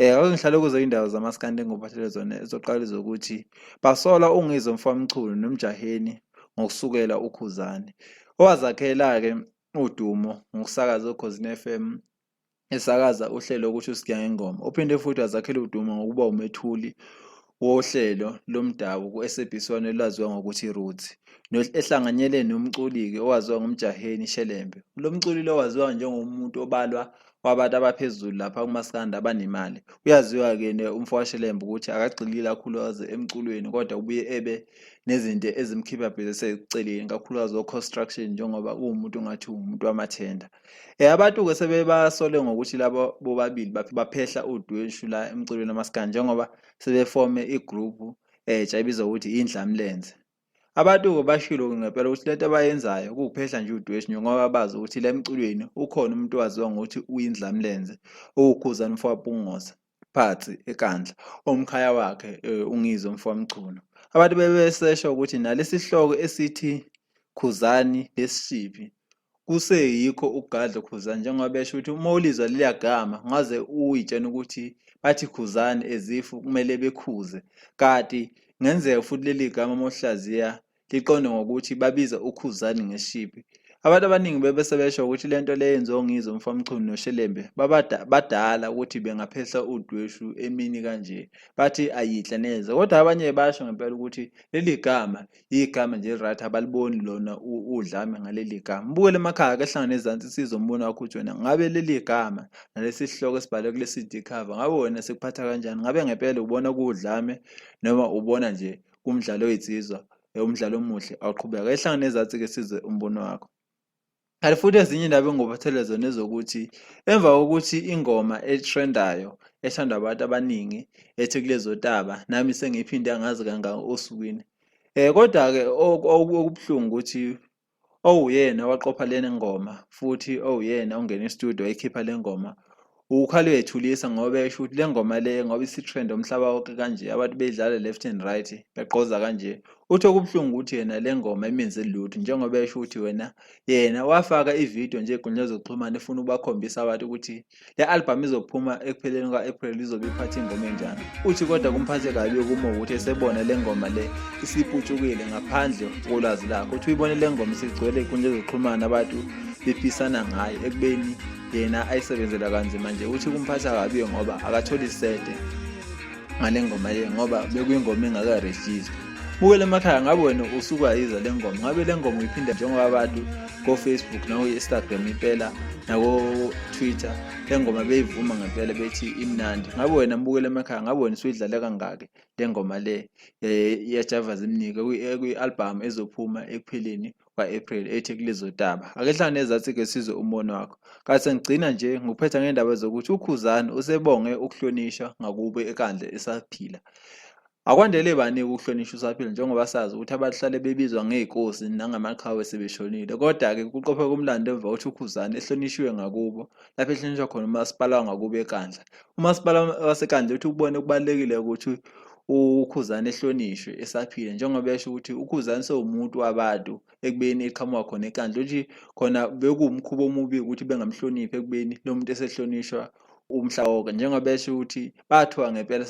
Eh akungihlale kuzo indawo zamaskandi engophathele zona ezoqala zokuthi basola ungizwe mfamchunu nomjaheni ngokusukela ukhuzane owazakhela-ke udumo ngokusakaza okhozini FM esakaza uhlelo ukuthi usigiya ngengoma uphinde futhi wazakhela udumo ngokuba umethuli wohlelo lomdabu ku-SABC One olwaziwa ngokuthi Roots, ehlanganyele nomculi-ke owaziwa ngoMjaheni Shelembe. Lo mculi lo waziwa njengomuntu obalwa kwabantu abaphezulu lapha kumaskandi abanemali. Uyaziwa-ke umfowashelembe ukuthi akagxili kakhulukazi emculweni kodwa ubuye ebe nezinto ezimkhipha bhese eceleni kakhulukazi o-construction njengoba uwumuntu ongathi uwumuntu wamathenda. Eh, abantu-ke sebebasole ngokuthi labo bobabili baphehla udweshu la emculweni wamaskandi njengoba sebefome igruphu entsha eh, ebizwa ukuthi indlamlenze. Abantu-ke bashilo ngempela ukuthi lento abayenzayo kuwuphehla nje udweshu njengoba bazi ukuthi la emculweni ukhona umuntu owaziwa ngokuthi uyindlamlenze, uwukhuzani mfowapungoza. Phatsi, eNkandla, owumkhaya wakhe uNgizwe Mfowamchunu. Abantu bebesesha ukuthi nalesi sihloko esithi Khuzani lesishiphi kuseyikho ukugadla ukhuzani njengoba besho ukuthi uma ulizwa leliya gama ngaze uyitshena ukuthi bathi khuzani as if kumele bekhuze kati ngenzeka futhi leli gama uma uhlaziya liqonde ngokuthi babiza uKhuzani ngeshibi. Abantu abaningi bebe sebesho ukuthi le nto le yenziwa uNgizwe Mfamchunu noShelembe badala ukuthi bengaphehla udweshu emini kanje. Bathi ayidla neze. Kodwa abanye basho ngempela ukuthi leli gama yigama nje right abaliboni lona udlame ngaleli gama. Mbukele emakhaya ke hlangana ezansi sizo umbono wakho ukuthi wena ngabe leli gama nalesi sihloko esibhalwe kule CD cover ngabe wena sikuphatha kanjani? Ngabe ngempela ubona kuwudlame noma ubona nje kumdlalo oyitsizwa umdlalo omuhle awuqhubeka ehlanga nezathi ke sizwe umbono wakho kanti futhi ezinye indaba engobathelele zona ezokuthi emva kokuthi ingoma etrendayo ethandwa abantu abaningi ethi kulezo taba nami sengiphinde angazi kangaka osukwini um kodwa-ke okubuhlungu ukuthi owuyena waqopha le ngoma futhi owuyena ongena e-studio wayikhipha le ngoma ukhale uyethulisa ngoba esho ukuthi le ngoma le ngoba isitrend umhlaba wonke kanje abantu beyidlala left and right begqoza kanje uthi okubuhlungu ukuthi yena le ngoma imenze lutho njengoba esho ukuthi wena yena wafaka ividiyo nje ey'nkundleni zokuxhumana efuna ukubakhombisa abantu ukuthi Le albhamu izophuma ekupheleni kwa-April izobe iphatha ingoma enjani. Uthi kodwa kumphathe kabi ukuma ukuthi esebona le ngoma le isiputshukile ngaphandle kolwazi lakho. Uthi uyibone le ngoma isigcwele inkundla ezoxhumana abantu bephisana ngayo ekubeni yena ayisebenzela kanzima nje. Uthi kumphatha kabi ngoba akatholi sete ngale ngoma le ngoba bekuyingoma engaka-register. bukele emakhaya ngabe wena usukwayiza le ngoma ngabe le ngoma uyiphinda njengoba abantu ko-facebook nakuyi-instagram impela nako-twitter le ngoma beyivuma ngempela bethi imnandi ngabe wena mbukele emakhaya ngabe wena usuyidlale kangaki le ngoma le eh, yajava zimnike kwi-albhamu ezophuma ekupheleni Kwa-April ethi kulezodaba ake hlala nezathi-ke sizwe umbono wakho kanti sengigcina nje ngokuphetha ngendaba zokuthi ukhuzani usebonge ukuhlonishwa ngakubo ekandle esaphila akwandele baningi ukuhlonishwa usaphila njengoba sazi ukuthi abahlale bebizwa ngey'kosi nangamaqhawe sebeshonile kodwa-ke kuqophe kumlando emva kokuthi ukhuzani ehlonishwe ngakubo lapho ehlonishwa khona umasipala wangakubo ekandla umasipala wasekandla uthi ukubone kubalulekile ukuthi uKhuzani ehlonishwe esaphila njengoba esho ukuthi uKhuzani sewumuntu wabantu ekubeni eqhamuka khona enkandla ukuthi khona bekuwumkhuba omubi ukuthi bengamhloniphi ekubeni lo muntu esehlonishwa umhla wonke njengoba esho ukuthi bathiwa ngempela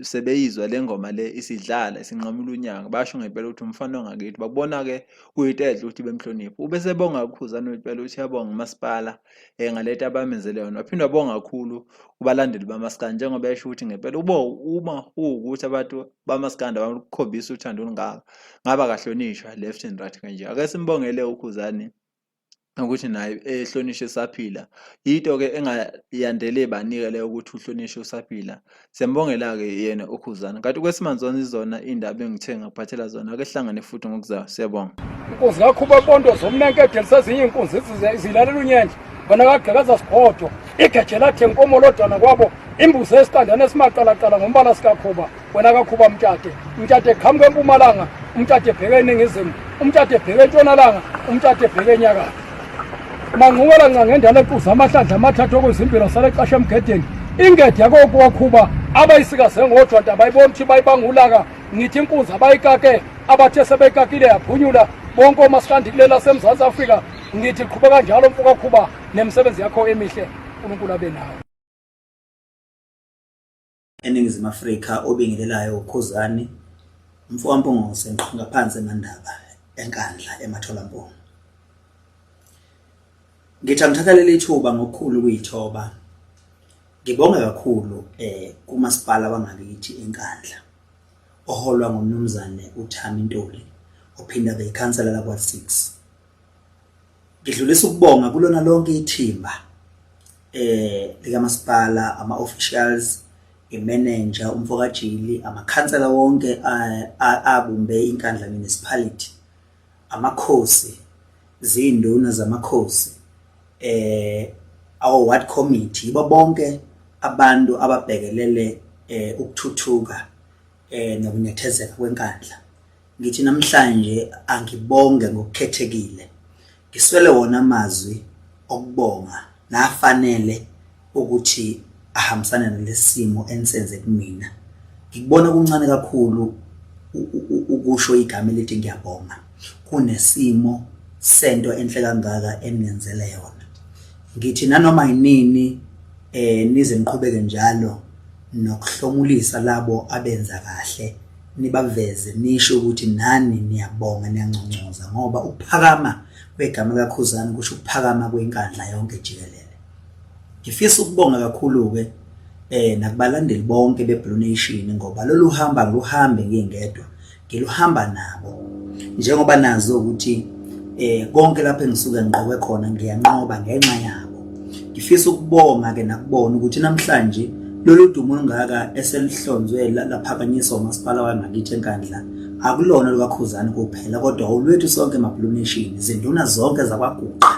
sebeyizwa le ngoma le isidlala isinqamula unyanga basho ngempela ukuthi umfana ongakithi babona-ke kuyinto enhle ukuthi bemhloniphe ubesebonga ukhuzane impela ukuthi yabonga umasipala eh ngaleta abamenzele yona waphinde wabonga kakhulu ubalandeli bamaskandi njengoba esho ukuthi ngempela ubo uma uwukuthi abantu bamaskandi abakhombisa uthando olungaka ngaba kahlonishwa left and right kanje ake simbongele ukhuzani ukuthi naye ehlonishwe saphila yinto ke engayandele banike leyo ukuthi uhlonishwe usaphila Siyambongela-ke yena uKhuzani. Kanti kwesimanje zona izona iy'ndaba engithe ngakuphathela zona. Ake sihlangane futhi ngokuzayo. Siyabonga. Inkunzi kakhuba bonto zomnankede lisezinye inkunzi zilalela unyendle bona kagqekaza sigodwa igeje lathi enkomo lodwana kwabo imbuzi esitandane esimaqalaqala ngombala sikakhuba wena kakhuba mtshade mtshade qhamuka empumalanga umtshade ebheke eningizimu umtshade ebheke entshonalanga umtshade ebheke enyakatho Manqubela nca ngendala equza amahlandla amathathu okuzimpilo sale xasha emgedeni ingede yakokuwakhuba abayisikaze ngodwa nta bayibona ukuthi bayibangulaka ngithi inkunzi abayikake abathe sebeyikakile yaphunyula bonke omasikandi kuleli lasemzantsi afrika ngithi qhuba kanjalo mfokakhuba nemisebenzi yakho emihle unkulunkulu abe nawe eNingizimu Afrika obingelelayo uKhuzani Mfowampungose Nqongaphansi eMandaba eNkandla eMatholamponi. Ngithi angithatha leli thuba ngokukhulu ukuyithoba ngibonge kakhulu eh kumasipala wangakithi eNkandla oholwa ngumnumzane uThami Ntuli ophinda beyikhansela lakwa-6 Ngidlulisa ukubonga kulona lonke ithimba eh likamasipala ama officials imanager umfokajili amakhansela wonke eh, abumbe inkandla municipality amakhosi zinduna zamakhosi eh our ward committee yibo bonke abantu ababhekelele eh ukuthuthuka eh nokunethezeka kwenkandla Ngithi namhlanje angibonge ngokukhethekile. Ngiswele wona amazwi okubonga nafanele ukuthi ahambisane nalesimo enisenze kumina. Ngikubona kuncane kakhulu ukusho igama elithi ngiyabonga kunesimo sento enhle kangaka enenzele yona. Ngithi nanoma yinini eh nize niqhubeke njalo nokuhlomulisa labo abenza kahle nibaveze nisho ukuthi nani niyabonga niyanconcoza ngoba ukuphakama kwegama kaKhuzani kusho ukuphakama kwenkandla yonke jikelele ngifisa ukubonga kakhulu ke eh nakubalandeli bonke beBlue Nation ngoba lolu hamba luhambe ngingedwa ngiluhamba nabo njengoba nazi ukuthi eh konke lapho engisuke ngiqoke khona ngiyanqoba ngenxa yabo ngifisa ukubonga ke nakubona ukuthi namhlanje lolu dumo olungaka eselihlonzwe laphakanyiswa umasipala wangakithi enkandla akulona lukakhuzani kuphela kodwa olwethu sonke emabhuluneshini izinduna zonke zakwaguqa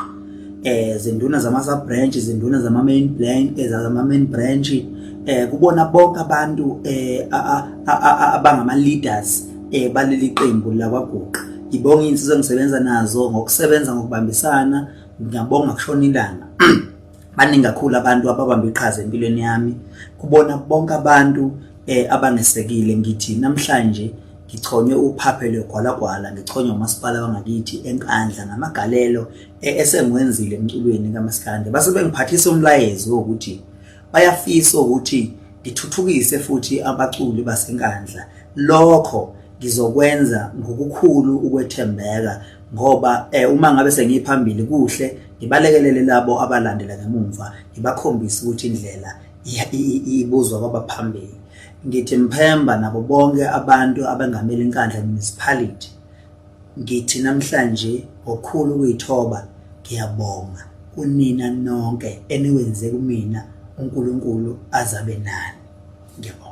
eh zinduna zama sub branch izinduna zama main branch eh, zama main branch eh kubona bonke abantu eh abangama leaders eh baleli qembu la kwaguqa ngibonga insizwa engisebenza nazo ngokusebenza ngokubambisana ngiyabonga kushona ilanga baningi kakhulu abantu ababamba iqhaza empilweni yami kubona bonke abantu eh abangesekile ngithi namhlanje Ngichonywe uphaphe lwegwalagwala ngichonywa umasipala wangakithi eNkandla ngamagalelo e-, esengiwenzile emculweni kamaskande base bengiphathisa umlayezo wokuthi bayafisa ukuthi ngithuthukise futhi abaculi baseNkandla lokho ngizokwenza ngokukhulu ukwethembeka ngoba eh, uma ngabe sengiphambili kuhle ngibalekelele labo abalandela ngemumva ngibakhombise ukuthi indlela ibuzwa kwabaphambili Ngithi Mphemba nabo bonke abantu abengamele iNkandla Municipality ngithi namhlanje ngokukhulu ukuyithoba ngiyabonga kunina nonke eniwenze kumina uNkulunkulu azabe nani ngiyabonga